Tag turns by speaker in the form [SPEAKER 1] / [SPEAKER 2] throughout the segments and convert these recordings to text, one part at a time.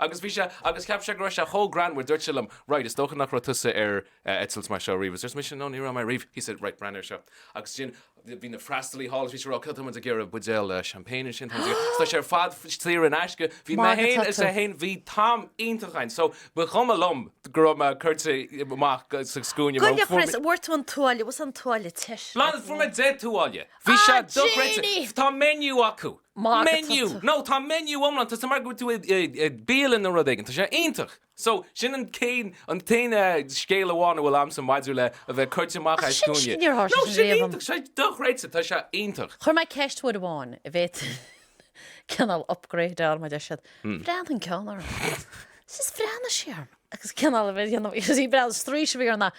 [SPEAKER 1] Agus bhí sé, agus cheap sé go raibh sé chomh greannmhar, dúirt sé liom, right, is dócha nach raibh tusa ar eitilt mar seo ariamh, is arsa mise, no, ní raibh mé ariamh, he said, right, breathnaigh ar seo. Agus ansin bhí na freastalaithe thall, is bhí sé ag rá, cineál tá muid ag iarraidh, buidéal champagne ansin, tá muid ag iarraidh, tá sé ar fad saor in aisce, bhí mé Margadh fhéin is é tugtha. fhéin, bhí t-am iontach againn, so ba chuma liom go raibh mé cuirte amach sa scuaine mar Goile fuair mé, chrios, an bhfuair tú an
[SPEAKER 2] tuáille, what's an tuáille, te, Blá, fuair mé deich
[SPEAKER 1] tuáille, bhí sé Ah, dochreidte, Janey! tá menu acu, Maith agat Menu! Tusa. No, tá menu iomlán, tá sé mar go bhfuil tú i bialann nó rud éigin, tá sé iontach! So, sin an céad, an t-aon scéal amháin a bhfuil a'msa maidir le a bheith cuirte amach Ach as sin scuaine. scéal atá No, sé sin réabh. iontach, sé dochreidte, tá sé iontach. Chuir mé ceist uair
[SPEAKER 2] amháin arbh fhéidir cineál upgrade mar a deir siad, bhreathnaigh an ceann orm, is bhreathnaigh sí orm agus cineál a bheith dhéanamh, is í ag breathnú, straois a bhí orm na,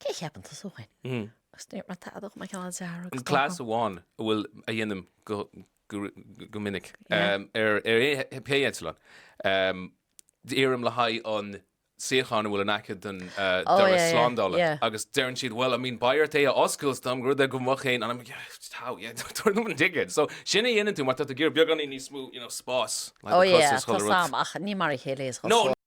[SPEAKER 2] Cé a cheapann tusa thú fhéin? Agus ní bhfuair mé tada ach mé cineál dearg, is dócha. Cleas
[SPEAKER 1] amháin a bhfuil a dhéanaim go minic ar pé eitleán, iarraim le haghaidh an tsuíocháin a bhfuil in aice don doras slándála agus deireann siad bhuel, I mean, beidh ort é a oscailt is dóigh, rud ar go mbeadh féin, and I'm like yeah, how, yeah, tabhair dom an ticéad! So, sin a dhéanann tú mar tá tú ag iarraidh beagáinín níos
[SPEAKER 2] mó,
[SPEAKER 1] you know,
[SPEAKER 2] spás
[SPEAKER 1] le do
[SPEAKER 2] chos
[SPEAKER 1] a chur i rucsac.
[SPEAKER 2] Ó yeah,
[SPEAKER 1] tá's a'm, ach ní
[SPEAKER 2] mar a
[SPEAKER 1] chéile é.